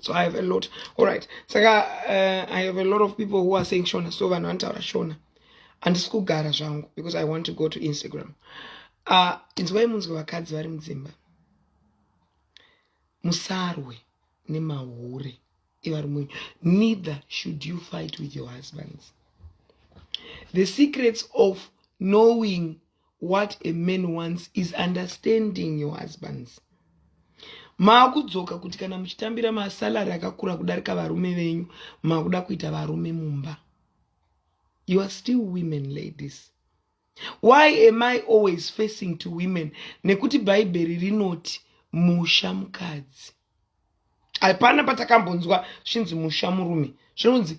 so i have a lot alright saka uh, i have a lot of people who are saying shona so vanhu vanotaura shona handisi kugara zvangu because i want to go to instagram uh, inzwai munzwe vakadzi vari mudzimba musarwe nemahure evarume neither should you fight with your husbands the secrets of knowing what a man wants is understanding your husbands maakudzoka kuti kana muchitambira masalary akakura kudarika varume venyu makuda kuita varume mumba you are still women ladies why am i always facing to women nekuti bhaibheri rinoti musha mukadzi hapana patakambonzwa zvinzi musha murume zvinonzi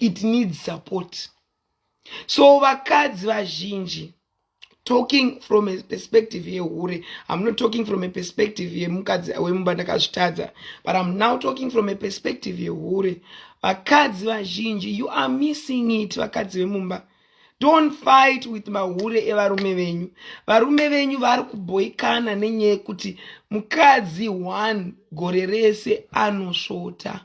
it needs support so vakadzi vazhinji talking from a perspective yehure i'm not talking from a perspective yemukadzi wemumba ndakazvitadza but i'm now talking from a perspective yehure vakadzi vazhinji you are missing it vakadzi vemumba don't fight with mahure evarume venyu varume venyu vari kubhoikana nenyaya yekuti mukadzi one gore rese anosvota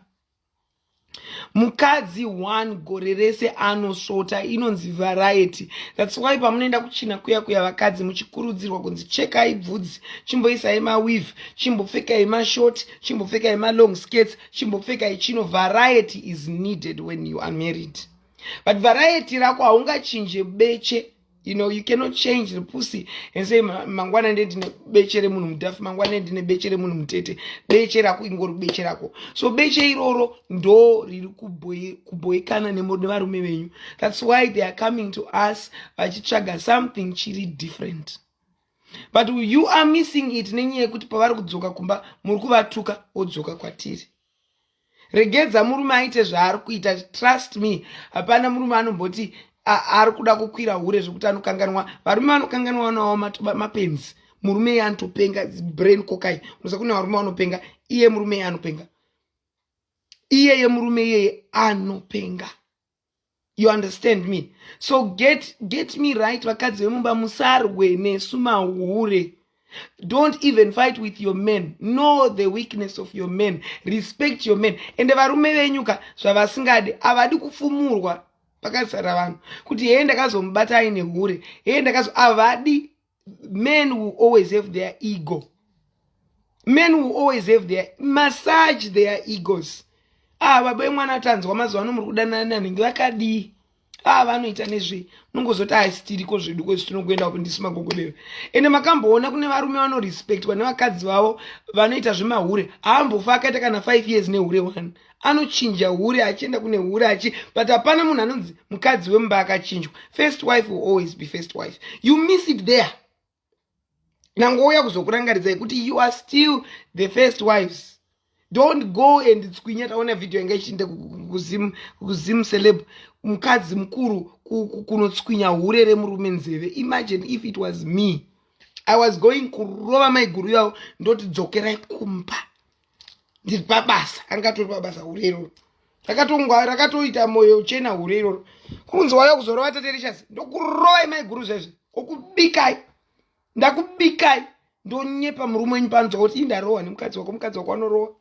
mukadzi one gore rese anosvota inonzi variety thats why pamunoenda kuchina kuya kuya vakadzi muchikurudzirwa kunzi chekai bvudzi chimboisai mawiv chimbopfekai mashort chimbopfekai malong skates chimbopfekai chino variety is needed when you are married but variety rako haungachinje beche you know you cannot change the pussy and say mangwana ndi ndine beche remunhu mudhafu mangwana ndine beche remunhu mutete beche rako ingori beche rako so beche iroro ndo riri kubhoikana nevarume venyu that's why they are coming to us vachitsvaga something chiri different but you are missing it nenyaya yekuti pavari kudzoka kumba muri kuvatuka wodzoka kwatiri regedza murume aite zvaari kuita trust me hapana murume anomboti ari kuda kukwira hure zvekuti anokanganwa varume vanokanganwa vanawo mapenzi murume iye anotopenga brain kokai unoza kune varume vanopenga iye murume iye anopenga iyeye murume iyeye anopenga you understand me so get, get me right vakadzi vemumba musarwe nesu mahure don't even fight with your men know the weakness of your men respect your men ende varume venyuka zvavasingadi havadi kufumurwa pakazara vanhu kuti hee ndakazomubata aine hure hee ndakazo havadi men will always have their ego men will always have their massage their egos ah baba vemwana tanzwa mazuva ano muri kudanana nanenge vakadii ah vanoita nezvei munongozoti haisi tiriko zvedu kwezi tinokuenda kupi ndisu magogodero ende makamboona kune varume vanorespectwa nevakadzi vavo vanoita zvemahure haambofa akaita kana five years nehure one anochinja hure achienda kune hure achi but hapana munhu anonzi mukadzi wemumba akachinjwa first wife will always be first wife you miss it there nangouya kuzokurangaridzai kuti you are still the first wives don't go and tswinya taona vhidhiyo yanga ichienda kuzim celeb mukadzi mukuru kunotswinya hure remurume nzeve imagine if it was me i was going kurova maiguru yavo ndoti dzokerai kumba ndiri pabasa angatori pabasa hure iroro rakatongwa rakatoita moyo uchena hure iroro kunzi waya kuzorova taterishasi ndokurovai maiguru zvezve kokubikai ndakubikai ndonyepa murume wenyu panzwa kuti ii ndarohwa nemukadzi wako mukadzi wako anorohwa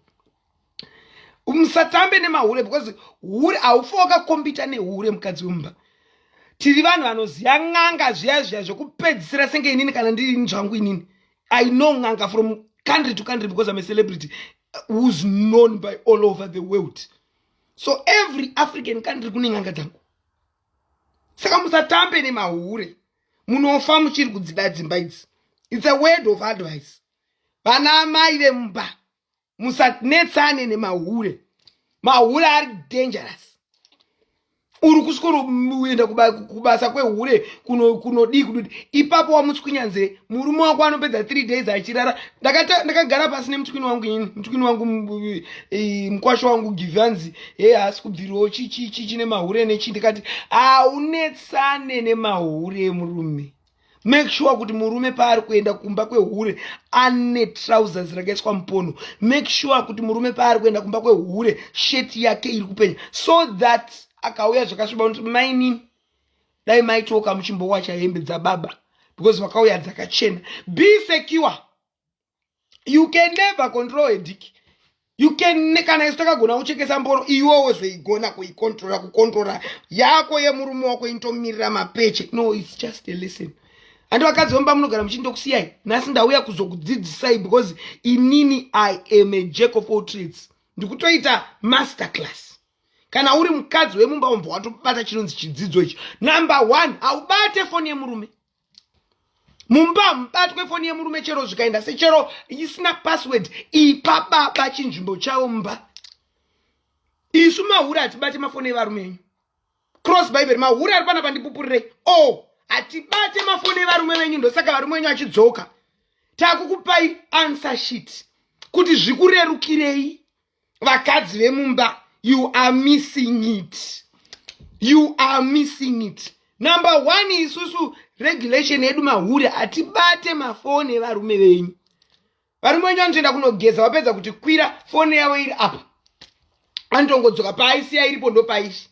musatambe nemahure because hure haufa wakakombita nehure mukadzi wemumba tiri vanhu vanoziva n'anga zviya zviya zvekupedzisira senge inini kana ndiri ini zvangu inini i know n'anga from country to country because i'm a celebrity uh, who's known by all over the world so every african country kune n'anga dzangu saka musatambe nemahure munofa muchiri kudzida dzimba idzi its a word of advice vana amai vemumba musanetsane nemahure mahure ari dangerous uri kusvikoenda kubasa kwehure kunodii kududi ipapo wamutswinya nzee murume wako anopedza three days achirara ndakagara pasi nemutswini wangu ini mutswini wangu mukwasho wangu givanzi he haasi kubvirawo chichichi chine mahure nechii ndikati haunetsane nemahure murume make sure kuti murume paari kuenda kumba kwehure ane trousers rakaiswa mupono make sure kuti murume paari kuenda kumba kwehure sheti yake iri kupenya so that akauya zvakasviba unoti mainini dai maitoka muchimbowacha hembe dzababa because vakauya dzakachena be secure you can never control a dick you can kana isu takagona kuchekesa mboro iwewo zveigona kuikontrola kukontrola yako yemurume wako inotomirira mapeche no its just a lesson handi vakadzi vemba munogara muchii ndokusiyai nhasi ndauya kuzokudzidzisai because inini i am a jack of all trades ndikutoita master class kana uri mukadzi wemumba umbwa watobata chinonzi chidzidzo icho number one haubate foni yemurume mumba hamubatwe foni yemurume chero zvikaenda sechero isina password ipa baba chinzvimbo chavo mumba isu mahure hatibate mafoni evarume enyu cross bible mahure ari pana pandipupurirei o oh, hatibate mafoni evarume venyu ndosaka varume venyu achidzoka takukupai answer sheet kuti zvikurerukirei vakadzi vemumba you are missing it you are missing it number one isusu regulation yedu mahure hatibate mafoni evarume venyu varume venyu vanotoenda kunogeza vapedza kuti kwira foni yavo iri apa anotongodzoka paaisiya iripo ndopaishi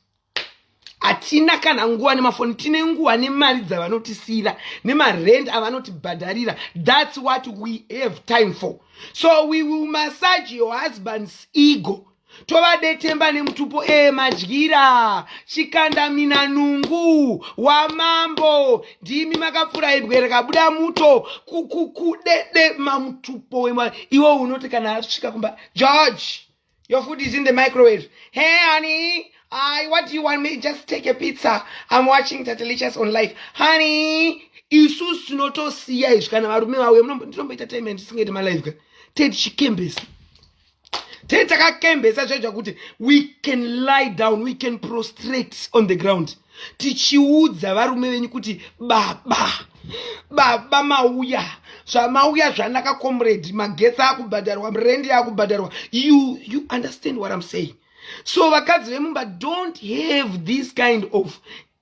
hatina kana nguva nemafoni tine nguva nemari dzavanotisiyira nemarend avanotibhadharira thats what we have time for so we will massage your husband's ego tovadetemba nemutupo ee madyira chikandamina nungu wamambo ndimi makapfura ibwe rikabuda muto kukukudede mamutupo wema iwo unoti kana asvika kumba george Your food is in the microwave. Hey, honey, I what do you want me? Just take a pizza. I'm watching Tatelicious on live. Honey, isu sinotosiya izvi kana varume vauya ndinomboita time and ndisingaiti malive ka tete chikembesa tete takakembesa zvaita kuti we can lie down we can prostrate on the ground tichiudza varume venyu kuti baba baba mauya zvamauya zvanaka comrade magetsi akubhadharwa rendi akubhadharwa you, you understand what im saying so vakadzi vemumba don't have this kind of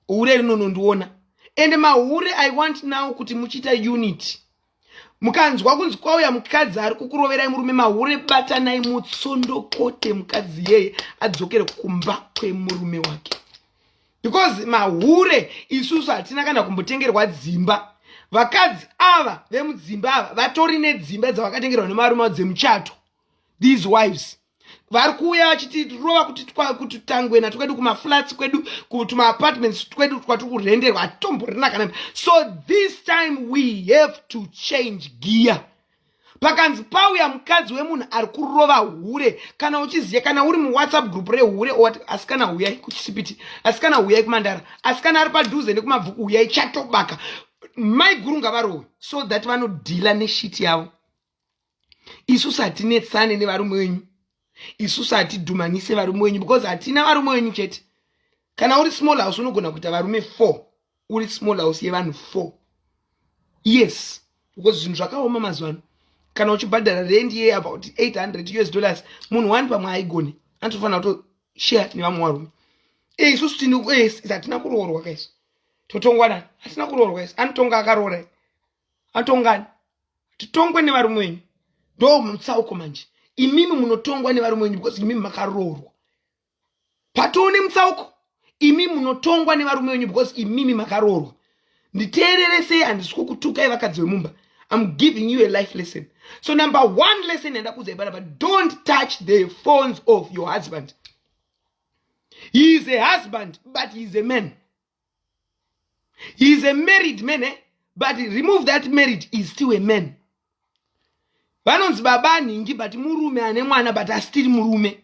hure rinonondiona ende mahure i want now kuti muchiita unity mukanzwa kunzi kwauya mukadzi ari kukuroverai murume mahure batanai mutsondokote mukadzi yeye adzokere kumba kwemurume wake because mahure isusu hatina kana kumbotengerwa dzimba vakadzi ava vemudzimba ava vatori nedzimba dzavakatengerwa nemarume avo dzemuchato these wives vari kuuya vachitirova kuti kuti tangwena twedu kumaflats kwedu kutumaapartments twedu twatiri kurenderwa hatitomborina kana so this time we have to change gear pakanzi pauya mukadzi wemunhu ari kurova hure kana uchiziva kana uri muwhatsapp group rehure owati asikana huyai kuchisipiti asikana huyai kumandara asikana ari padhuze nekumabvuku huyai chatobaka maiguru ngavarowe so that vanodhila neshiti yavo isusu hatinetsane nevarume wenyu isusu hatidhumanise varume wenyu because hatina varume wenyu chete kana uri small house unogona kuita varume four uri small house yevanhu four yes because zvinhu zvakaoma mazuva ano kana uchibhadhara rendi ye about 800 us dollars munhu wani pamwe aigone anotofanira kuto share nevamwe varume e isusu tini hatina kuroorwa kaisu totongwa nani hatina kuroorwa isu anotonga akaroora atongani titongwe nevarume wenyu ndo mutsauko manje imimi munotongwa nevarume wenyu because imimi makaroorwa patoone mutsauko imimi munotongwa nevarume wenyu because imimi makaroorwa nditeerere sei handisi kukutukai vakadzi vemumba I'm giving you a life lesson. So number one lesson and but don't touch the phones of your husband. He is a husband, but he is a man. he is a married man eh? but remove that married is still a man vanonzi baba anhingi but murume ane mwana but asitiri murume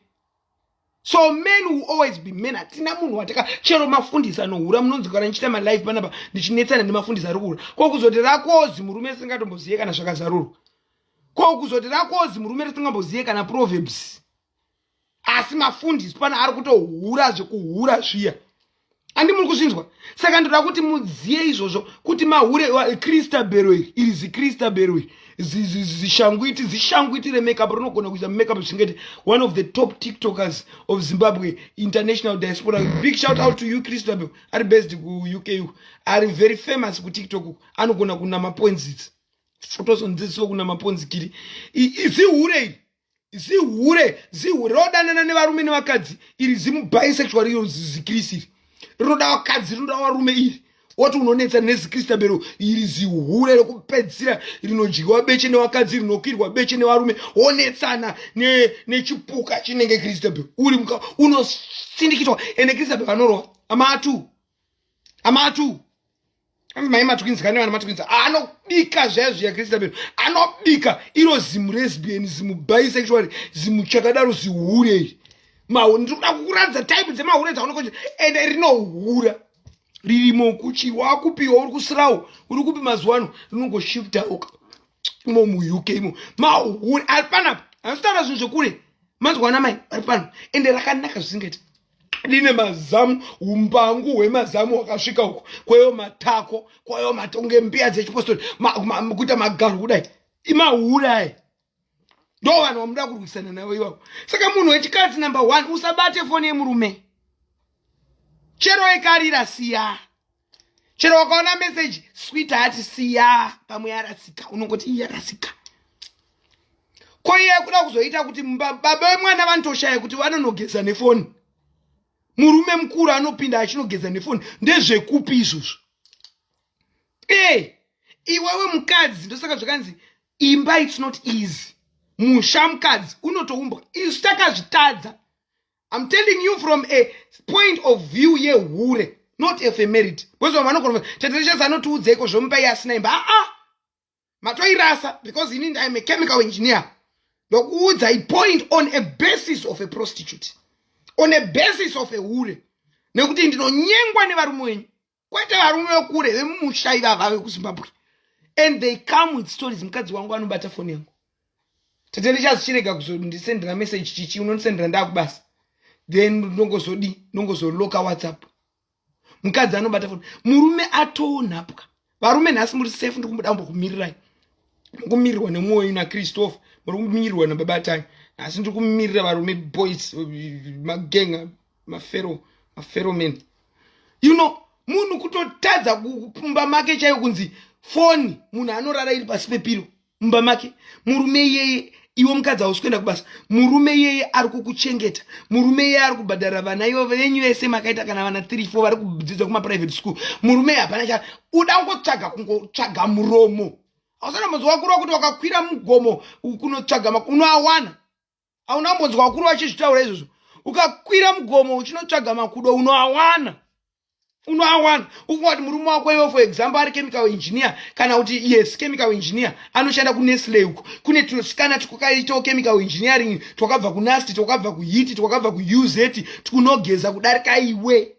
so men will always be men hatina munhu wataka chero mafundisi anohura munonzi kana ndichiita malife panapa ndichinetsana nemafundisi ari kuhura ko kuzoti rakozi murume risingatombozive kana zvakazarurwa ko kuzoti rakozi murume risingambozive kana proverbs asi mafundisi pana ari kutohura zvekuhura zviya andi muri kuzvinzwa saka ndoda kuti mudziye izvozvo kuti mahure kristabero iri iri zikristabero iri zishanguiti zishanguiti remakeup rinogona kuita makeup zvingati one of the top tiktokers of zimbabwe international diaspora big shout out to you kristabero ari based kuuk uku ari very famous kutiktok uku anogona kunama ponzitsi totosonzisiwo kunama ponzikiri izihure iri zihure zihure rodanana nevarume nevakadzi iri zimu bisexual iyo zikirisi iri rinoda vakadzi rinoda varume iri woti unonetsa nezikristabero iri zihure rekupedzisira rinodyiwa beche nevakadzi rinokwirwa beche nevarume wonetsana nechipuka ne chinenge kristabero uri muka unosindikitwa ende kristabero anorwa amatu amatu hanzi mai matwins kane vana matwins anobika zvaya zviya kristabel anobika iro zimu resbian zimu bisexual zimu chakadaro zihure iri ndiri kuda kukuratidza type dzemahure dzaunokoe ende rinohura ririmo kuchi wakupiwa uri kusirawo uri kupi mazuva ano rinongoshiftaoka imo muuk imo mahure ari panapa hanzitaura zvinhu zvekure manzwa ana mai vari pano ende rakanaka zvisingaiti line mazamu umbangu hwemazamu wakasvika uko kwayo matako kwayo matonge mbiya dzechipostori kuita magaro kudai imahurai ndo vanhu vamuda kurwisana navo ivavo saka munhu wechikadzi number one usabate foni yemurume chero ekarira siya chero wakaona message sweet hati siya pamwe yarasika unongoti iyi yarasika ko iye kuda kuzoita kuti baba vemwana vanotoshaya kuti vanonogeza nefoni murume mukuru anopinda achinogeza nefoni ndezvekupi izvozvo e iwewe mukadzi ndosaka zvakanzi imba its not easy musha mukadzi unotoumbwa isu takazvitadza I'm telling you from a point of view yehure not if a merit because vamwe vanogona chetete chese anotiudzeiko zvomupa iye asina imba aa ah, ah. matoirasa because ini I'm a chemical engineer ndokuudza i point on a basis of a prostitute on a basis of a hure nekuti ndinonyengwa nevarume wenyu kwete varume vekure vemumusha ivava vekuzimbabwe and they come with stories mukadzi wangu anobata foni yangu tate ndichazichirega kuzondisendera message chichi unondisendera ndakubasa then ndongozodii ndongozoloka whatsapp mukadzi anobata foni murume atoonhapwa varume nhasi muri safe ndi kumboda kumbo kumirirai mukumirirwa nemwoyo nachristopher muri kumirirwa nababatai nhasi ndiri kumirira varume boys magenga mafero mafero men you know munhu kutotadza kumba make chaiyo kunzi foni munhu anorara iri pasi pepiro mumba make murume iyeye iwe mukadzi hausi kuenda kubasa murume iyeye ari kukuchengeta murume iyeye ari kubhadhara vana ivo venyu vese makaita kana vana three four vari kudzidza kumaprivate school murume hapana cha uda kungotsvaga kungotsvaga muromo hausana mudzi wakurwa kuti wakakwira mugomo kunotsvaga unoawana hauna kumbonzwa vakuru vachizvitaura izvozvo ukakwira mugomo uchinotsvaga makudo unoawana unoawana ukungati murume wako iwe for example ari chemical engineer kana kuti yes chemical engineer anoshanda kunestle uko kune tunosikana twakaitawo chemical engineering twakabva kunasti twakabva kuhiti twakabva kuuz tkunogeza kudarika iwe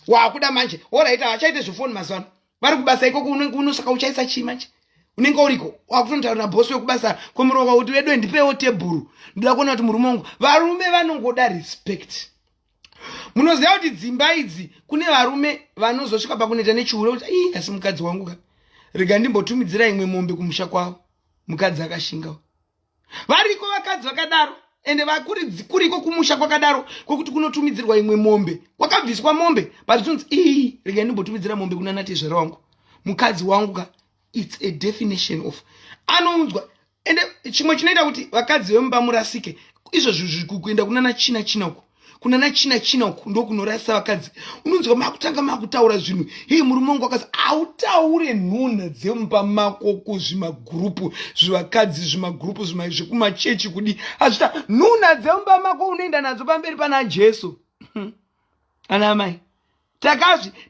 waakuda manje orit havachaite zvefoni mazuva ano vari kubasa ikoko unenge unosaka uchaisa chii manje unenge uriko wakutonotaurira bhosi wekubasa kwemurume wako kuti vedu ndipewo tebhuru ndoda kuona kuti murume wangu varume vanongoda respect munoziva kuti dzimba idzi kune varume vanozosvika pakuneta nechihure kuti ii asi mukadzi wangu ka rega ndimbotumidzira imwe mombe kumusha kwavo mukadzi akashingawo variko vakadzi vakadaro ende kuriko kumusha kwakadaro kwekuti kunotumidzirwa imwe mombe kwakabviswa mombe but zvinonzi ii rega ndimbotumidzira mombe kuna natezvera wangu mukadzi wangu ka its a definition of anounzwa ende chimwe chinoita kuti vakadzi vemumba murasike izvozvo kuenda kuna nachina china uko kuna na china china uku ndokunorasa vakadzi unonzwa makutanga makutaura zvinhu hii murume wangu akazi hautaure nhunha dzemumba mako kuzvimagurupu zvivakadzi zvimagurupu zvekumachechi kudi hazvita nhunha dzemumba mako unoenda nadzo pamberi pana jesu hmm. ana amai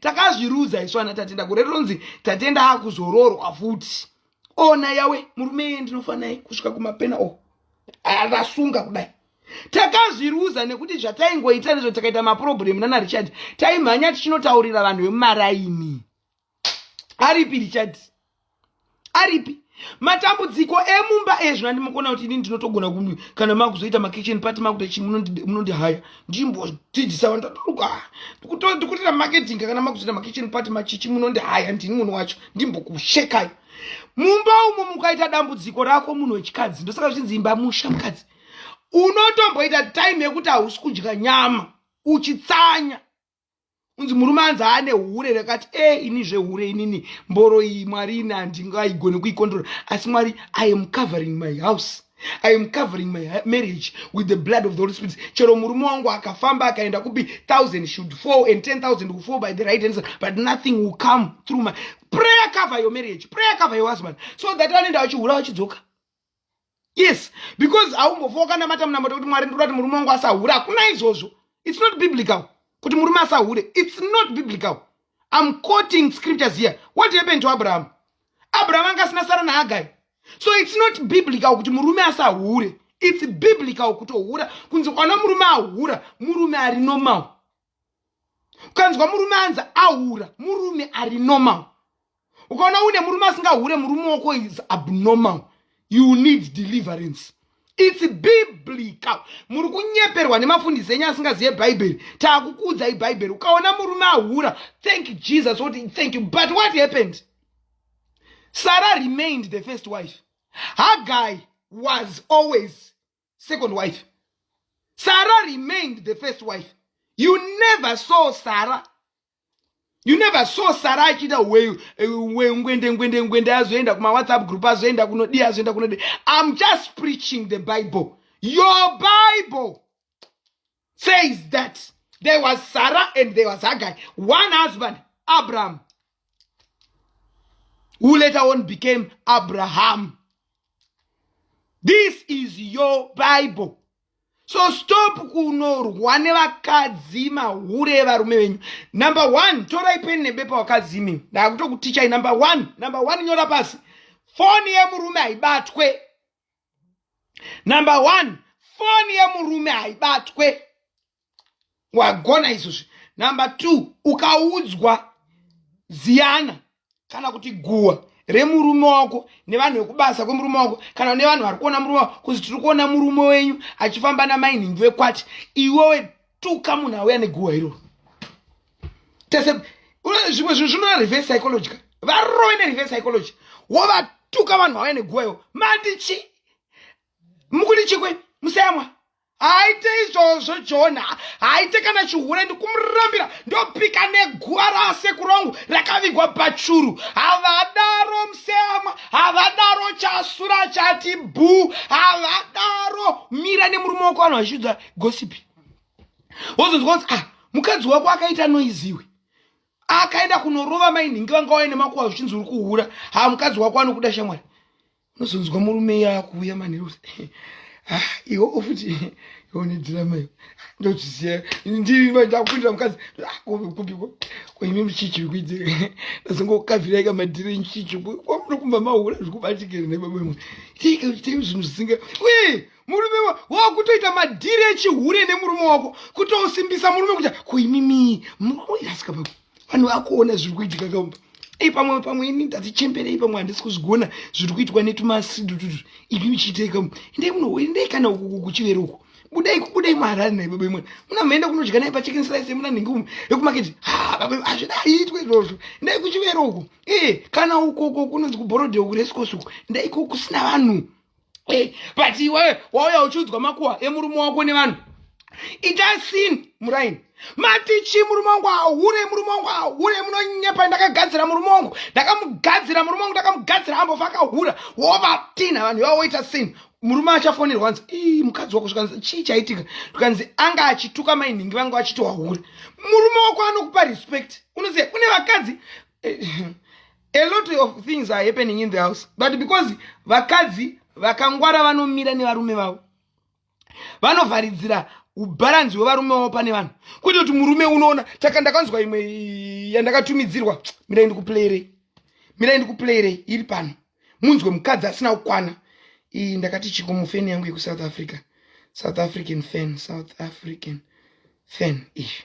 takazvirudza isu ana tatenda gore rinonzi tatenda akuzororwa futi ona yawe murume iye ndinofanai kusvika kumapena o oh. arasunga kudai takazviruza nekuti zvataingoita ndizvo takaita maproblem nana richard taimhanya tichinotaurira vanhu vemumaraini aripi richard aripi matambudziko emumba ezvo andimukona kuti ini ndinotogona kumi kana makuzoita makitchen pati makuta chi munondihaya ndimbodzidzisa vanhu taturuka ndikutoita marketing kana makuzoita makitchen pati machichi munondihaya ndini munhu wacho ndimbokushekai mumba umo mukaita dambudziko rako munhu wechikadzi ndosaka zvichinzi imba musha mukadzi unotomboita time yekuti hausi kudya nyama uchitsanya unzi murume anzi aane hure rekati e eh, ini zvehure inini mboro iyi mwari ini handingaigone kuikontrola asi mwari i am covering my house i am covering my marriage with the blood of the holy spirit chero murume wangu akafamba akaenda kupi 1000 should fall and 10000 will fall by the right answer but nothing will come through my prayer cover your marriage prayer cover your husband so that anoenda vachihura vachidzoka yes because haumbofa wakanamata munamato kuti mwari ndikuda kuti murume wangu asahure hakuna izvozvo its not biblical kuti murume asahure its not biblical im quoting scriptures here what happened to abraham abraham anga asina sara nahagai so its not biblical kuti murume asahure its biblical kutohura kunzi kwana murume ahura murume ari normal ukanzwa murume anzi ahura murume ari normal ukaona une murume asingahure murume wako is abnormal you need deliverance its biblical muri kunyeperwa nemafundisi enyu asingazive bhaibheri taakukuudzai bhaibheri ukaona murume ahura thank jesus kuti thank you but what happened sarah remained the first wife hagai was always second wife sarah remained the first wife you never saw sarah you never saw sara achiita ngwende ngwende ngwende azoenda kumawhatsapp group azoenda kunodii azoenda kunodii im just preaching the bible your bible says that there was Sarah and there was Haggai, one husband, Abraham, who later on became Abraham. This is your Bible. So stop kunorwa nevakadzi mahure evarume venyu. Number one, torai peni nebepa wakadzi imi. Ndakutokutichai number one, number one nyora pasi. Foni yemurume haibatwe. number one foni yemurume haibatwe wagona izvozvi number two ukaudzwa ziyana kana kuti guwa remurume wako nevanhu vekubasa kwemurume wako kana nevanhu vari kuona murume wako kuzi tiri kuona murume wenyu achifamba namainhingi vekwati iwewe tuka munhu auya neguwa iroro tese zvimwe zvinhu zvinoda reverse psychology ka varove nereverse psychology wovatuka vanhu vauya neguvayo mati chi mukuti chikwe musayamwa haite izvozvo jona haite kana chihure ndikumurambira ndopika neguva rasekuru angu rakavigwa pachuru havadaro museyamwa havadaro chasura chati bhuu havadaro mira nemurume wako vanhu vachiudza gosipi wozonzwa kuti ah mukadzi wako akaita noiziwe akaenda kunorova mainhingi vanga waine makuwa zvichinzi uri kuhura ha mukadzi wako anokuda shamwari unozonzwa murume iye akuuya manheru ah, iwo futi ione dhirama iyo ndozviziva ndakupindira mukadzi kupiko ah, kwaimi muchichi kuite ndazongokaviraika madhiri nchichi kwamunokumba mahura zvikubatikere nebaba mwe tiike zvinhu zvisinga uye murume wakutoita madhiri echihure nemurume wako kutosimbisa murume kuita kuimimi asika vanhu vakuona zviri kuitika kaumba ei pamwe pamwe ini ndatichembere ipamwe handisi kuzvigona zviri kuitwa netumasidu tutu ipi michiitei kaumba endei muno endei kana ukuku kuchivere uko budai kubudai maharari naye baba imwe muna maenda kunodya naye pachicken slice muna nhingi umu yekumaketi hazvida haitwe izvozvo ndai kuchivero uko ee kana ukoko kunonzi kuborodhe uku resikosi uko ndaiko kusina vanhu eh, but iwewe wauya uchiudzwa makuwa emurume wako nevanhu itai sin muraini mati chi murume wangu ahure murume wangu ahure munonyepa ndakagadzira murume wangu ndakamugadzira murume wangu ndakamugadzira ambova akahura wovatina vanhu ivavo woita sin murume achafonerwa hanzi ii mukadzi wako zvikanzi chii chaitika zvikanzi anga achituka mainhingi vanga vachiti wahure murume wako anokupa respect unoziva kune vakadzi eh, a lot of things are happening in the house but because vakadzi vakangwara vanomira nevarume vavo vanovharidzira ubharanzi hwevarume vavo pane vanhu kwete kuti murume unoona taka ndakanzwa imwe yandakatumidzirwa mirai ndikuplayirei mirai ndikuplayirei iri pano munzwe mukadzi asina kukwana iyi ndakati chiko mufeni yangu yekusouth africa south african fan south african fan izvi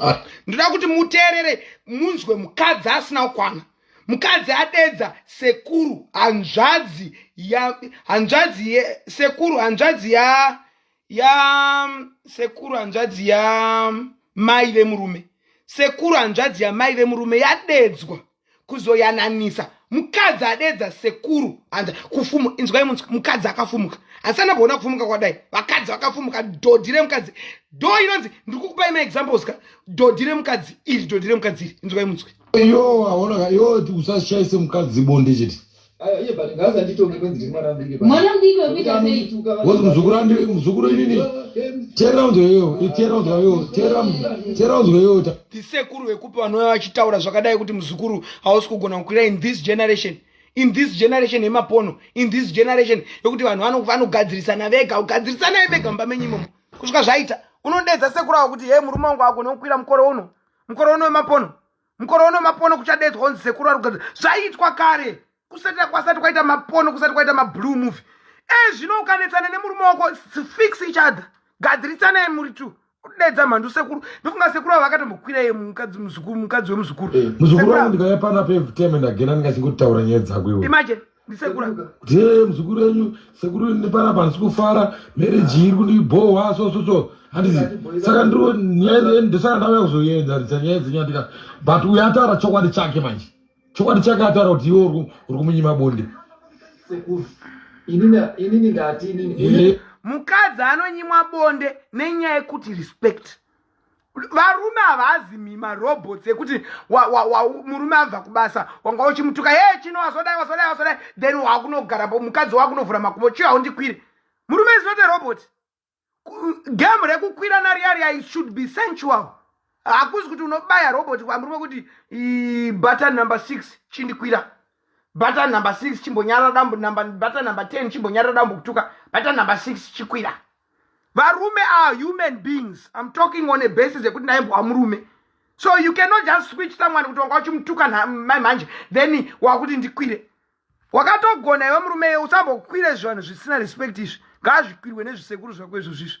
Ah, ndoda kuti muteerere munzwe mukadzi asina kukwana mukadzi adedza sekuru hanzvadzi ya hanzvadzi ye sekuru hanzvadzi ya ya sekuru hanzvadzi ya mai vemurume sekuru hanzvadzi ya mai vemurume yadedzwa kuzoyananisa mukadzi adedza sekuru hanza kufumu inzwai mukadzi akafumuka hasana kuona kufumuka kwadai vakadzi vakafumuka dhodhi remukadzi do inonzi ndiri kukupai maexamples ka dhodhi remukadzi iri dhodhi remukadzi iri inzwai munzwe yo aonaka yo usashaise mukadzi bonde chete Aye but ngaza nditonge kwenzi ndiri mwana mudiki. Mwana mudiki wekuita sei? Wozi muzukuru andi muzukuru inini. Tera unzwe yo, itera unzwe yo, tera tera unzwe yo. Tisekuru vekupi vanouya vachitaura zvakadai kuti muzukuru hausi kugona kukwira in this generation. In this generation yemapono, in this generation yokuti vanhu vanogadzirisana vega, kugadzirisana vega mumba menyu imomo. Kusvika zvaita. Unodedza sekuru avo kuti hey murume wangu agona kukwira mukoro uno. Mukoro uno wemapono. mukore uno mapono kuchadedzwa unzi sekuru ari kugadzira zvaiitwa kare kusati kwasati kwaita mapono kusati kwaita mablue movie e zvino ukanetsana nemurume wako fix each other gadziritsanai muri two kudedza mhandu sekuru ndofunga sekuru avo vakatombokwira ye mukadzi muzukuru mukadzi wemuzukuru eh, muzukuru wangu ndikauya pana pevteme ndagenda ndingachingoti taura nyaya dzako iwe imagine ndisekurae muzukuru wenyu sekuru nepanapa handisi kufara mereji iri kundibhohwa so so so handizi saka ndiro nyaya ndosaka ndauya kuzoenzaridza nyaya dzenyu andika but uyo ataura chokwadi chake manje chokwadi chake ataura kuti iwe uri kumunyima bonde mukadzi anonyimwa bonde nenyaya yekuti respect varume havazi mima robots ekuti murume abva kubasa wanga uchimutuka he chino wasodai wasodai wasodai then wakunogara po mukadzi wakunovhura makubo chiyo haundikwiri murume is not a robot game rekukwira nariaria should be sensual hakuzi kuti unobaya robot kwamurume kuti button number six chindikwira button number six chimbonyarara dambo button number ten chimbonyarara dambo kutuka button number six chikwira varume are human beings im talking on a basis yekuti ndaimbwa murume so you cannot just switch someone kuti wanga uchimutuka mai manje then wakuti ndikwire wakatogona iwe murume iye usambokwire izvi vanhu zvisina respect izvi ngaazvikwirwe nezvisekuru zvako izvo zvizvi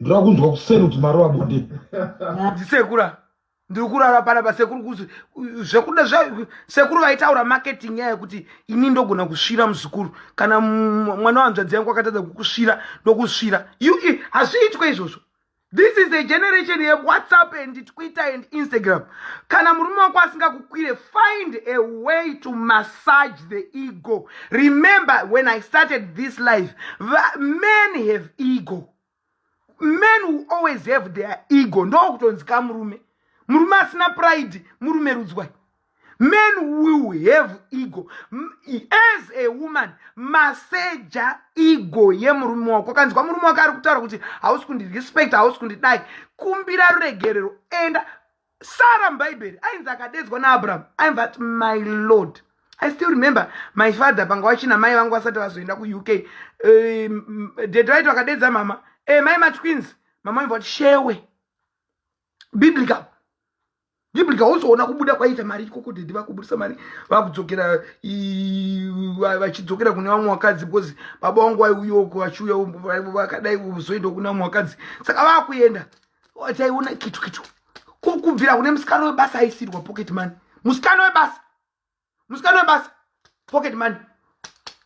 ndoda kunzwa kuseni kuti marova bonde ndisekura ndiri kurara pana pasekuru kuzi zvekuda sekuru vaitaura marketing yaya kuti ini ndogona kusvira muzukuru kana mwana wanzvadzi yangu akatadza kukusvira ndokusvira ue hazviitwe izvozvo this is a generation yewhatsapp and twitter and instagram kana murume wako asingakukwire find a way to massage the ego remember when i started this life many have ego men will always have their ego ndokutonzi ka murume murume asina pride murume rudzwai men will have ego as a woman maseja ego yemurume wako kanzwa murume wako ari kutaura kuti hausi kundirespect hausi kundidai kumbira ruregerero enda sara mubhaibheri ainzi akadeedzwa naabrahamu ainzi ati my lord i still remember my father panga wachina mai vangu vasati vazoenda kuuk um, dede vaiti vakadeedza mama e eh, mai matwins mama ainva kuti shewe biblical biblical wozoona kubuda kwaita mari ikoko dede vakubudisa mari vakudzokera vachidzokera kune vamwe vakadzi because baba vangu vaiuyoko vachiuya vakadai vozoenda kune vamwe vakadzi saka vakuenda wataiona kitu kitu kubvira kune musikana webasa aisirwa pocket money musikana webasa musikana webasa pocket money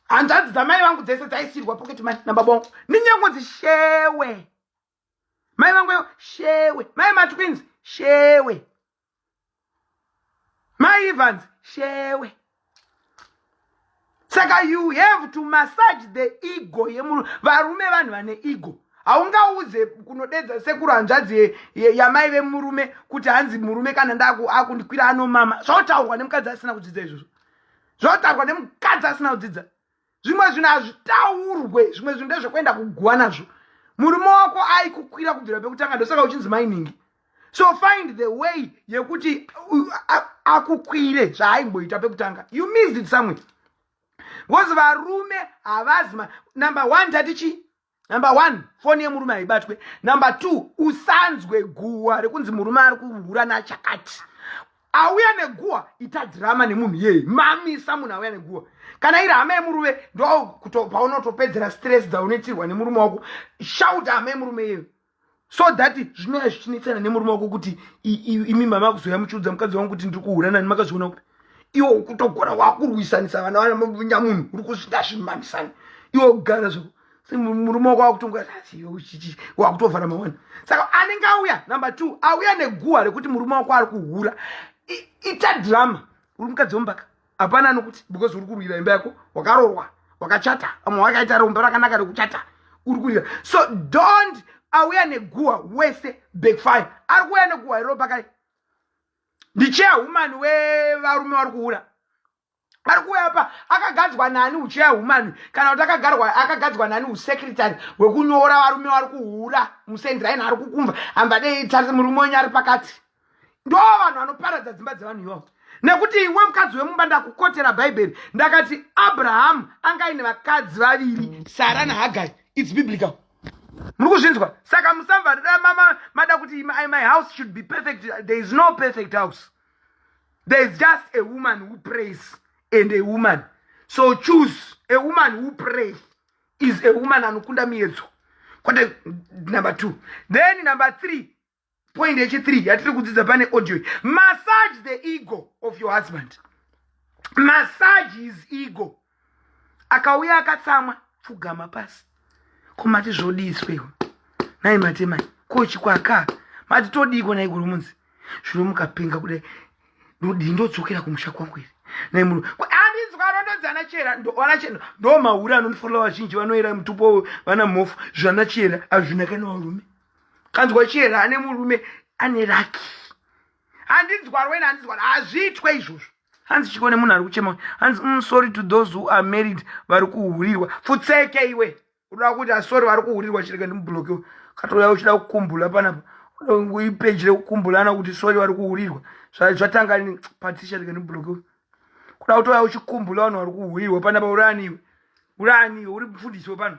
hanzvadzi dzamai vangu dzese dzaisirwa pocket money nababa wangu ninyangodzi shewe mai vangu shewe mai matwins shewe maivans shewe saka you have to massage the ego yemunhu varume vanhu vane ego haungaudze kunodedza sekuru hanzvadzi yamai vemurume kuti hanzi murume kana ndaakundikwira anomama zvautaurwa nemukadzi asina kudzidza izvozvo zvautaurwa nemukadzi asina kudzidza zvimwe zvinhu hazvitaurwe zvimwe zvinhu ndezvekuenda kuguva nazvo murume wako aikukwira kubvira pekutanga ndosaka uchinzi mainingi so find the way yekuti akukwire zvaaimboita pekutanga you missed it somewhere because varume havazi number one tati chii number one foni yemurume haibatwe number two usanzwe guhwa rekunzi murume ari kuhura nachakati auya neguhwa ita dhirama nemunhu iyeye mamisa munhu auya neguhwa kana iri hama yemurume ndo paunotopedzera stress dzaunoitirwa nemurume wako shauta hama yemurume iyeyo so that zvinova zvichinetsana nemurume wako kuti imi mama kuzoya muchiudza mukadzi wangu kuti ndiri kuhura nani makazviona kuti iwe ukutogona wakurwisanisa vana vana nyamunhu uri kusvika zvimanisani iwe kugara zvo murume wako wakutonga wakutovhara mawani saka anenge auya number two auya neguha rekuti murume wako ari kuhura ita drama uri mukadzi wombaka hapana anokuti because uri kurwira imba yako wakarorwa wakachata amwe wakaita romba rakanaka rekuchata uri kurwira so don't auya neguwa wese backfire ari kuuya neguwa iro pakai ndicheya humani wevarume vari kuura ari kuuya apa akagadzwa nani ucheya humani kana kuti akagadzwa nani usekretary hwekunyora varume vari kuhura musendiraini ari kukumva hambadei tarise murume wenyu ari pakati ndo vanhu vanoparadza dzimba dzevanhu iwawo nekuti iwe mukadzi wemumba ndakukotera bhaibheri ndakati abrahamu anga aine vakadzi vaviri sara nahagari its biblical muri kuzvinzwa saka musamvarira mama mada kuti my house should be perfect there is no perfect house there is just a woman who prays and a woman so choose a woman who pray is a woman anokunda miedzo kwete number two then number three point yechi3 yatiri kudzidza pane audio massage the ego of your husband massage his ego akauya akatsamwa pfugama pasi komati zvodiswewo nai matemai kochi kwaka mati todiiko nai gurumunzi zvino mukapenga kudai ndodii ndodzokera kumusha kwangu here nai munhu ana chera ndoona chera ndomahure anondifonera vazhinji vanoera mutupo vana mhofu zvana chera hazvina kana varume kanzwa chihera ane murume ane raki handinzwarwa ina handinzwarwa hazviitwe izvozvo hanzi chiko nemunhu ari kuchema hanzi mm, sorry to those who are married vari kuhurirwa futseke iwe unoda kuti asori vari kuhurirwa chirega ndimubloke katouya uchida kukumbula panapa ipeji rekukumbulana kuti sori vari kuhurirwa zvatanga patisha rega ndimubloke kuda kutouya uchikumbula vanhu vari kuhurirwa panapa uraniwe uraniwe uri mufundisi wepano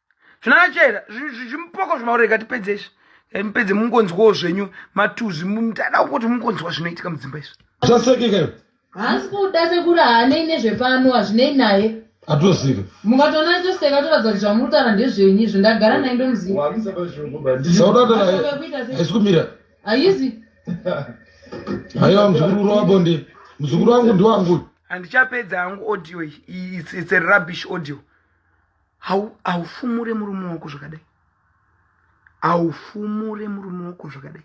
zvinachera zvimupoko zvemauro ikatipedze izvi mupedze mungonzwawo zvenyu matuzvi ndada kuti mungonzwa zvinoitika mudzimba izvi zvasekekayo haasi kuda sekuri haanei nezvepano hazvinei naye atosika mukatoona atoseka toratidza kuti zvamurutara ndezvenyu izvo ndagara naye ndomuzivahaisi kumira haizi haiwa muzukuru wabonde muzukuru wangu ndiwangu handichapedza hangu audio iyi it's a rubbish audio haufumure murume wako zvakadai haufumure murume wako zvakadai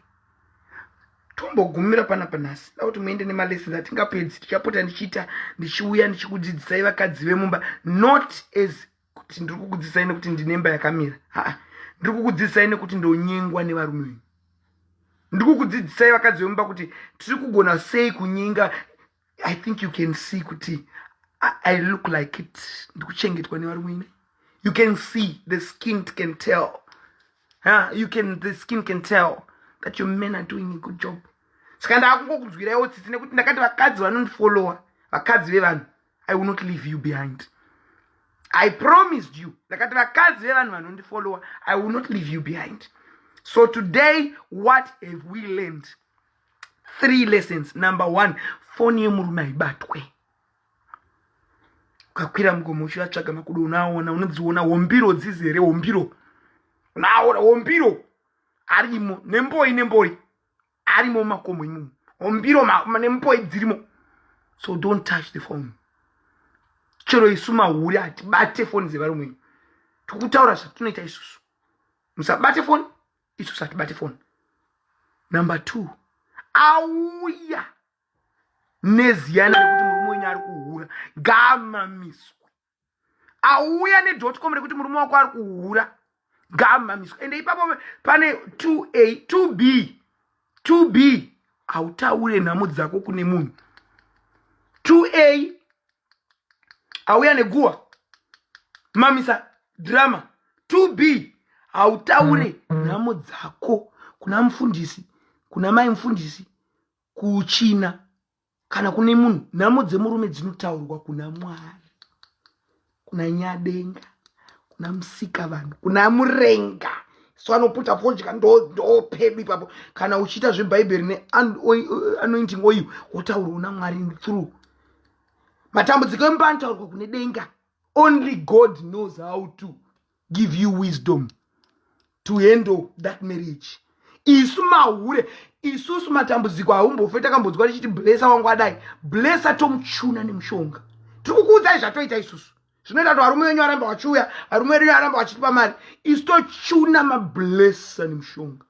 tombogumira pana panhasi da kuti muende nemalesson atingapedzi tichapota ndichiita ndichiuya ndichikudzidzisai vakadzi vemumba not as kuti ndiri kukudzidzisai nekuti ndinemba yakamira haa ndiri kukudzidzisai nekuti ndonyengwa nevarume venyu ndiri kukudzidzisai vakadzi vemumba kuti tiri kugona sei kunyenga i think you can see kuti i, I look like it ndikuchengetwa nevarume ine you can see the skin can tell huh? you can the skin can tell that your men are doing a good job saka ndaakungokunzwiraiwo tsitsi nekuti ndakati vakadzi vanondifollowa vakadzi vevanhu i will not leave you behind i promised you ndakati vakadzi vevanhu vanondifollowa i will not leave you behind so today what have we learned three lessons number one foni yemurume haibatwe ukakwira mugomo uchivatsvaga makudo unaona unodziona hombiro dzizi here hombiro unaona hombiro arimo nemboi nemboi arimo mumakomo imomo hombiro nemboi dzirimo so don't touch the phone chero isu mahuri hatibate foni dzevarume tikutaura zvatinoita isusu musabate foni isu satibati foni number two auya neziyana rekuti murume wenyu ari kuhura ngaamamiswe auya nedotcom rekuti murume wako ari kuhura ngaamamiswe ende ipapo pane 2a 2b 2b hautaure nhamo dzako kune munhu 2a auya neguwa mamisa drama to be hautaure nhamo dzako kuna mufundisi kuna mai mufundisi kuchina kana kune munhu nhamo dzemurume dzinotaurwa kuna mwari kuna nyadenga kuna musika vanhu kuna murenga so anoputa fodya ndopedu ipapo kana uchiita zvebhaibheri neanointing oil wotaurwa una mwari through matambudziko emumba anotaurwa kune denga only god knows how to give you wisdom to handle that marriage isu mahure isusu matambudziko haumbofe takambodzwa tichiti blesa wangu adai blesa tomuchuna nemushonga tiri kukuudzai zvatoita isusu zvinoita kuti varume venyu varamba vachiuya varume venyu varamba vachitipa mari isu tochuna mablesa nemushonga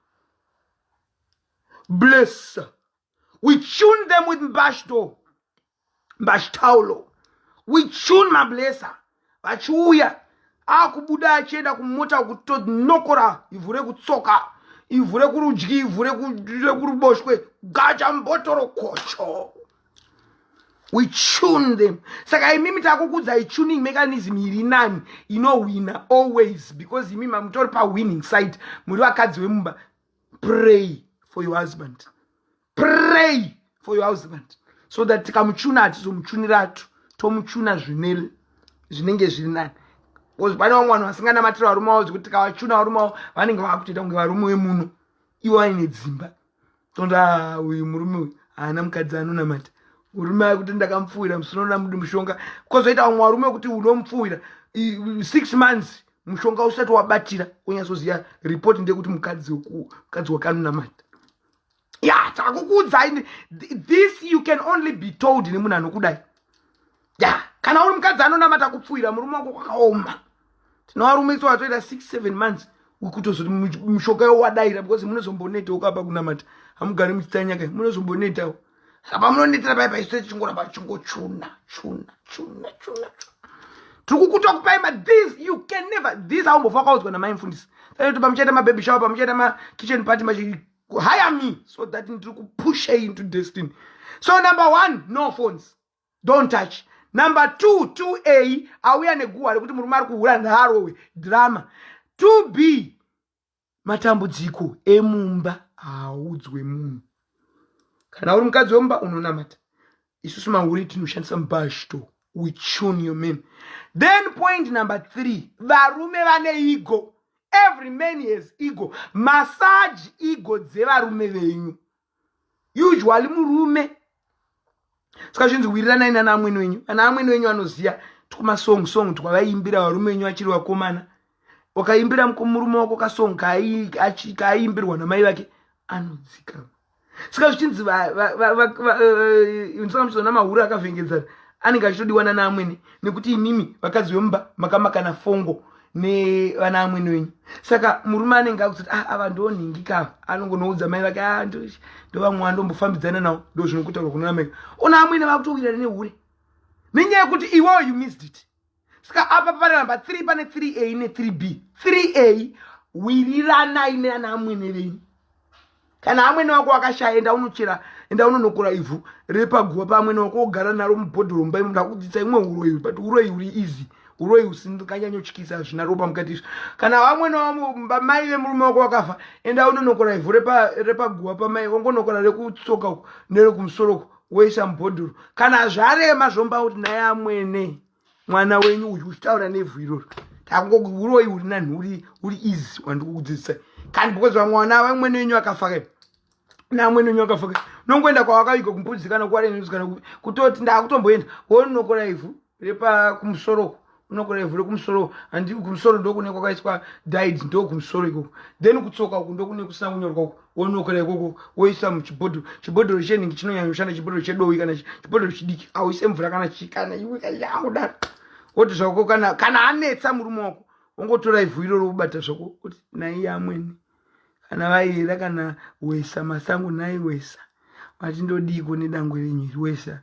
blesa we tune them with mbashto mbashtaulo we tune mablesa vachiuya akubuda achienda kumota kutonokora ivhu rekutsoka ivhu rekurudyi ivhu rekuruboshwe gacha mbotoro kocho we tune them saka imimi takukudzai tuning mechanism iri nani inohwina always because imimi mamutori pawinning side muri vakadzi vemumba pray for your husband pray for your husband so that tikamuchuna hatizomuchuniratu tomuchuna zvine zvinenge zviri nani bcause pane vamwe vanhu vasinganamatira varume vavo zvekuti tikavachuna varume vavo vanenge vakutoita kunge varume wemuno ivo vaine dzimba tonda ah, uyu murume uyu haana mukadzi anonamata murume aye kuti ndakamupfuwira musinona mudi mushonga bcause oita vamwe varume kuti unomupfuwira six months mushonga usati wabatira wonyatsoziva report ndeyekuti mukadzi mukadzi wakanunamata ya takukuudzai this you can only be told nemunhu anokudai ya kana uri mukadzi anonamata kupfuhira murume wako kwakaoma tinovarume iso vatoita six seven months wekutozoti mushonga yo wadaira because munozomboneta ukapa kunamata hamugari muchitanyaka munozombonetawo saka pamunonetera pai paisu tichingoramba tichingochuna chuna chuna chuna tiri kukuta kupai ma this you can never this aumbofa wakaudzwa namai mfundisi saiti pamuchaita mababy shower pamuchaita makitchen party machi hire me so that ndiri kupusha into destiny so number one no phones don't touch number two two a auya neguwa rekuti murume ari kuhura nhaarowe drama two b matambudziko emumba haaudzwe munhu kana uri mukadzi wemumba unonamata isusu mahure tinoshandisa mubashto we tune your men then point number three varume vane ego every man has ego massage ego dzevarume venyu usually murume ska zvinzi wiriranai nana amwene wenyu ana amwene wenyu anoziva tikumasong song twavaiimbira varume wenyu vachiri vakomana wakaimbira murume wako kasong kaaiimbirwa namai vake anodzikama ska zvichinzi ndisamuchizoona mahura akavhengedzana anenge achitodiwa nana amwene nekuti imimi vakadzi vemumba makamakana fongo nevana amwene wenyu saka murume anenge akuzoti ah, ava ndonhingika ava anongonoudza mai vake ah, ndovamwe andombofambidzana nawo ndo zvinokutarwa kunorameka ona amwene vakutowirana nehure nenyaya yekuti iwewo you missed it saka apa panoramba 3 pane 3a ne 3b 3a wiriranai neana amwene venyu kana amwene wako wakashaya enda unochera enda unonokora ivhu riri paguva paamwene wako ogara naro mubhodhoro mumba imo ndakudzisa imwe uroyi but uroyi uri easy uroyi usinganyanyotyisa hazvina ropa mukati izvo kana vamwene wamumba mai vemurume wako wakafa enda unonokora ivhu repaguva pamai ongonokora rekutsoka uko nerekumusoro uko woisa mubhodhoro kana zvarema zvomba kuti naye amwene mwana wenyu uyu uchitaura nevhu iroro takungouroi uri nanhuri uri easy wandikukudzidzisa kani because vamwana vamwene wenyu akafaka namwene wenyu akafaka nongoenda kwawakavika kumbudzi kana kuwarenzi kana kutoti ndakutomboenda wonokora ivhu repa kumusoroko unokora ivhu rekumusoro handi kumusoro ndokune kwakaiswa did ndokumusoro ikoko then kutsoka uku ndokune kusina kunyorwa uku wonokora ikoko woisa muchibhodhoro chibhodhoro chenhingi chinonyanyoshanda chibhodhoro chedowi kana chibhodhoro chidiki auise mvura kana chikana iwe kayakudaro woti zvako kana kana anetsa murume wako wongotora ivhu iro robata zvako kuti naiye amwene kana vaiyera kana wesa masango nai wesa vati ndodiiko nedangwe renyu iri wesa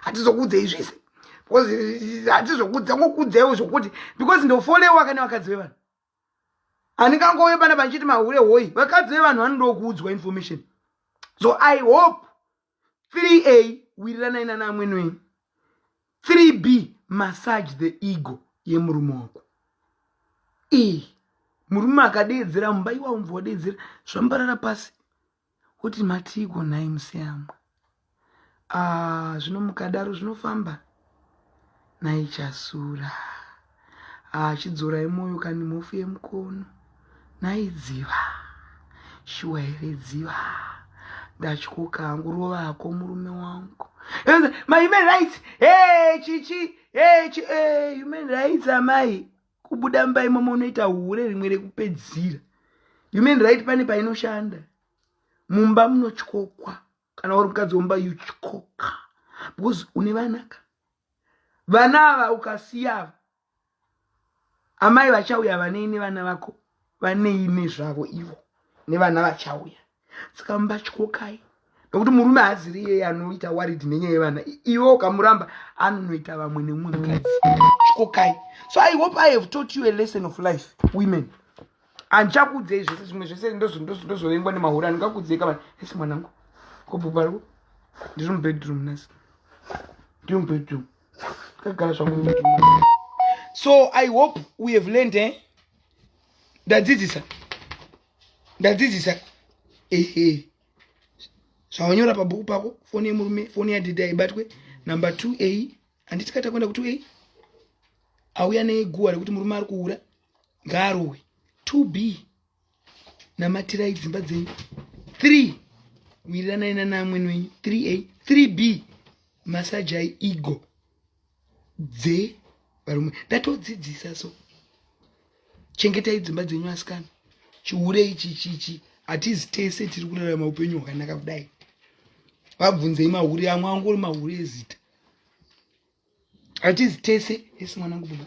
hatizokuudzei zvese because eh, hatizokuudza ngokuudzaiwo zvokuti because ndofolewa kana vakadzi vevanhu handingangove pana pandichiti mahure hoyi vakadzi vevanhu vanodokuudzwa information so i hope 3a wiriranai nana amwene wenyu 3b massage the ego yemurume wako e murume akadeedzera mumba iwawo mva wadeedzera zvambarara pasi Kuti matiiko nhai museyamwa. Ah, zvino mukadaro zvinofamba nhai chasura. Ah, chidzorai moyo kani mhofu yemukono. Nhai dziva. Shuwa here dziva. Ndatyoka hangu rovako murume wangu. My human rights. Hey, chichi. Hey, chi, hey, human rights amai. kubuda mumba imomo unoita hure rimwe rekupedzira human right pane painoshanda mumba munotyokwa kana uri mukadzi womumba yutyoka because une vanaka vana ava ukasiyava amai vachauya vanei nevana vako vanei nezvavo ivo nevana vachauya saka mbatyokai nokuti murume haaziri iyeye anoita warid nenyaya yevana iwe ukamuramba anonoita vamwe nemumwe mukadzi tyokai so i hope i have taught you a lesson of life women andichakuudzei zvese zvimwe zvese ndozovengwa nemahuri andingakuudzei kamani ese mwanangu kobhobarwo ndiri mubedroom nasi ndiri mubedroom ndakagara zvangu mubedroom so i hope we have learned eh? ndadzidzisa ndadzidzisa ehe zvawanyora pabhuku pako foni yemurume foni yadhidha ibatwe number two a handiti kata kuenda kutwo a auya neguwa rekuti murume ari kuura ngaarowe two b namatirai dzimba dzenyu three wiriranai nanaamwene wenyu three a three b masajai ego dzevarume ndatodzidzisa so chengetai dzimba dzenyu asikana chihure ichi chichi hatizi tese tiri kurarama upenyu hwakanaka kudai vabvunzei mahure amwe angori mahure ezita hatizi tese esi mwanangu baba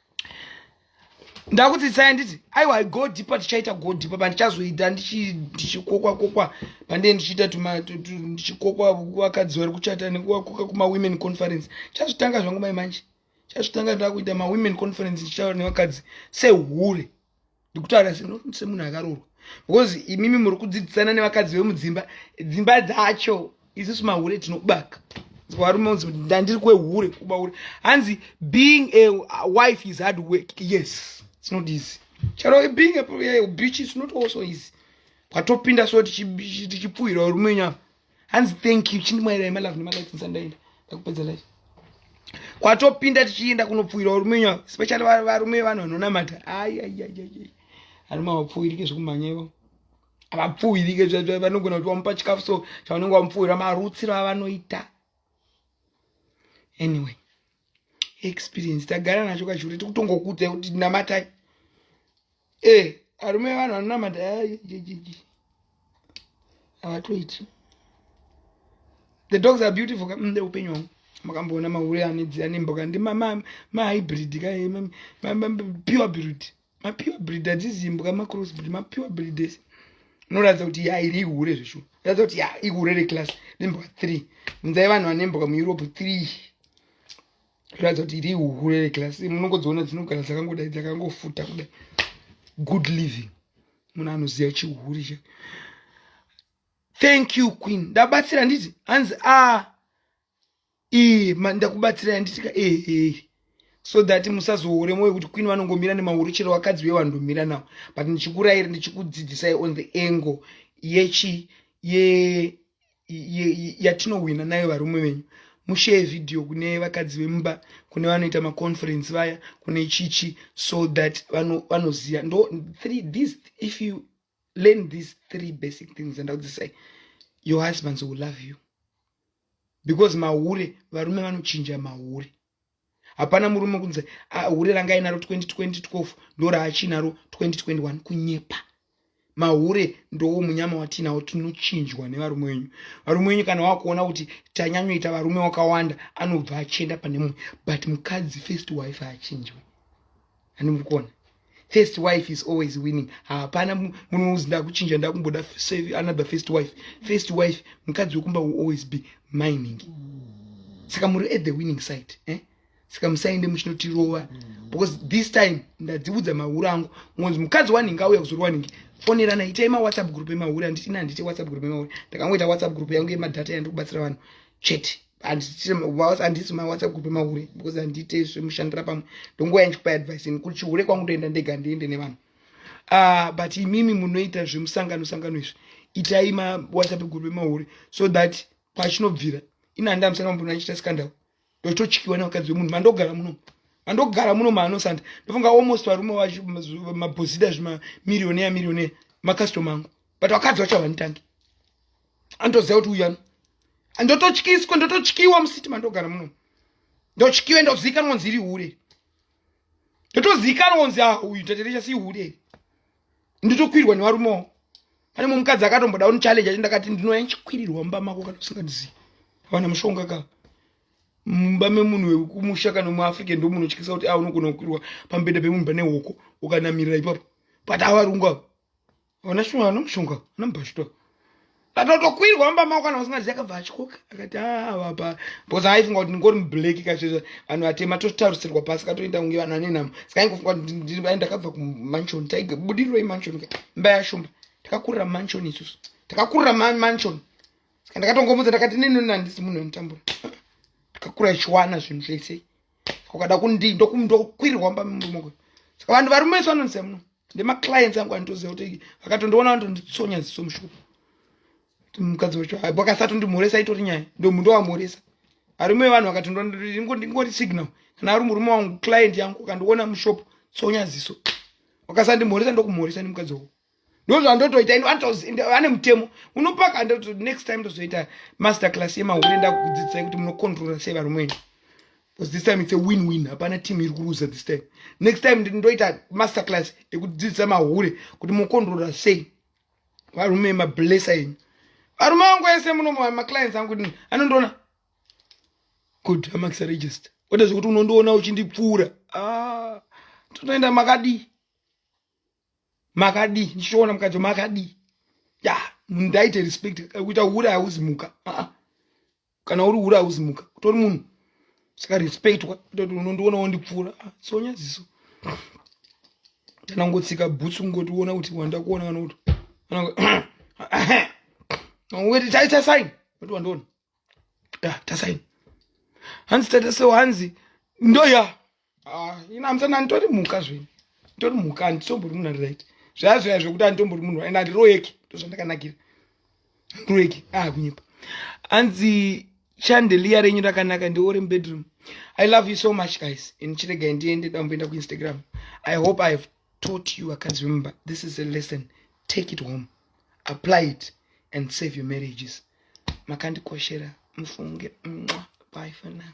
ndakudzidzisai nditi aiwa i go deeper tichaita go deeper pandichazoita ndichikokwa kokwa pandee ndichiita ndichikokwa vakadzi vari kuchata nekuvakoka kumawomen conference chazvitanga zvangu mai manje chazvitanga ndakuita mawomen conference ndichitaura nevakadzi sehure ndikutaura semunhu akaroorwa because imimi muri kudzidzisana nevakadzi vemudzimba dzimba dzacho isusu mahure tinobaka varume unzi ndandiri kwehure kuba hure hanzi being a wife is hard work yes it's not easy charo being a bitch is not also easy kwatopinda so tichipfuhira varume nyama hanzi thank you chindimwairai malove nemalikes nsandaenda ndakupedza life kwatopinda tichienda kunopfuwira varume nyavo especially varume vanhu vanonamata aiaiaiai arume havapfuwirike zvekumhanya ivo havapfuwirike vanogona kuti vamupa chikafu so chavanenge vamupfuwira marutsiro avanoita anyway experience tagara nacho kachikuru tikutongokuudzai kuti namatai e eh, arume vanhu vanonamata havatoiti the dogs are beautiful kamde mm, upenyu wangu makamboona mahure anedzira nemboka ndi mahybrid kae pure beauty mapure breed adzizimbwa macross breed mapure breed ese unoratidza kuti ya iri ihure zveshu ratidza kuti ya ihure reclass nembwa three munzai vanhu vane mbwa mueurope three ratidza kuti iri ihure reclass munongodziona dzinogara dzakangodai dzakangofuta kudai good living munhu anoziva chihure cha thank you queen ndabatsira nditi hanzi a ah, ee ndakubatsirai nditika ee so that musazoore moyo kuti kwini vanongomira nemahuru chero vakadzi veye vandomira nawo but ndichikurairi ndichikudzidzisai on the angle yechi ye yatinowina nayo varume venyu mushare video kune vakadzi vemumba kune vanoita maconference vaya kune chichi so that vanoziva vano ndo three this if you learn these three basic things and i'll say your husbands will love you because mahure varume vanochinja mahure hapana murume kunzi ah, hure ranga ainaro 2012 ndo raachinaro 2021 kunyepa mahure ndowo munyama watiinawo tinochinjwa nevarume wenyu varume wenyu kana wakuona kuti tanyanyoita varume wakawanda anobva achienda pane mumwe but mukadzi first wife haachinjwe ani muri kuona first wife is always winning hapana munhu unozi ndakuchinja ndakumboda another first wife first wife mukadzi wekumba will always be mining saka muri at the winning side eh? saka musaende muchinotirova because this time ndadziudza mahure angu ngonzi mukadzi wanhingi auya kuzori wanhingi fonerana itai mawhatsapp group emahure anditi nandite whatsapp group emahure ndakangoita whatsapp group yangu yemadhata yandikubatsira vanhu chete handisi mawhatsapp kupe mahure because handiite zvemushandira pamwe ndonguva yandichikupa advice ini kuti chihure kwangu ndoenda ndega ndiende nevanhu ah, but imimi munoita zvemusangano sangano izvi itai mawhatsapp group emahure so that pachinobvira ini handi amusana mambona achiita scandal ndochitotyiwa nevakadzi vemunhu mandogara muno mandogara muno maanosanda ndofunga almost varume vacho mabhozida zvemamirioneya mirioneya macustomer angu but vakadzi vacho havanitangi andoziva kuti uyani ndototyiswa ndototyiwa musiti mandogara muno ndotyiwe ndozikanwa nzi iri hure ndotozikanwa nzi ah uyu taterecha si hure ndotokwirwa nevarumewo pane mumwe mukadzi akatomboda unichallenge achi ndakati ndinoya ndichikwirirwa mumba mako kana usingandizivi havana mushonga ka mumba memunhu wekumusha kana muafrica ndo munotyisa kuti a ah, unogona kukwirwa pambeda pemunhu pane hoko ukanamirira ipapo but avarungu avo Ona shunga ano mushunga ana mubhashito. Atotokwirwa amba mako kana usingazi akabva achikoka. Akati ah baba because I think kuti ngori mublack kachizve vanhu vatema totarisirwa pasi katoenda kunge vanhu vane namo. Saka ingofunga kuti ndiri vaenda kabva ku mansion tiger budiro i mansion ka. Mbaya shumba. Takakurira mansion isu. Takakurira man mansion. Saka ndakatongomudza ndakati nini nandisi munhu anotambura. Takakura chiwana zvinhu zvese. Ukada kundi ndokumdo kwirwa amba mumwe. Saka vanhu varumeswa nonse muno. nemaclients angu anitoziva kuti vakatondiona vanotonditsonya ziso mushuku ti mukadzi wacho haibo akasatondimhoresa itori nyaya ndomundo wamhoresa arume evanhu vakatoningori signal kana ari murume wangu client yangu akandiona mushop tsonya ziso wakasandimhoresa ndokumhoresa nemukadzi wako ndozvandotoita ino ane mutemo unopaka ndoto next time ndozoita master class yemahure ndakudzidzisai kuti munokontrola sei varume wenyu because this time it's a win win hapana team iri kuruza this time next time ndoita master class yekudzidzisa mahure kuti mokondrora sei varume mablessa enyu varume vangu ese muno maclients angu kuti anondiona good amax register kwete zvekuti unondiona uchindipfuura ah, totoenda makadii makadii ndichiona mukadzi makadii ya ndaite respect kuita hure hauzimuka ah, ah. kana uri hure hauzi muka utori munhu saka respectwa kutoti unondiona wondipfuura ah, tsonya ziso tanangotsika bhutsu ngoti uona kuti wandakuona kana kuti weti taita saini woti wandiona tasaini hanzi tata so hanzi ndoya Ah, ina msana nditori mhuka zvini nditori mhuka handitombori munhu ari right zvaya zvaya zvekuti handitombori munhu and handiroyeki ndozvandakanakira handiroyeki ah kunyepa hanzi chandeliya renyu rakanaka ndiore mubedroom i love you so much guys and chiregai ndiende damboenda kuinstagram i hope i have taught you akanzi remember this is a lesson take it home apply it and save your marriages makandikoshera mufunge mwa bye for now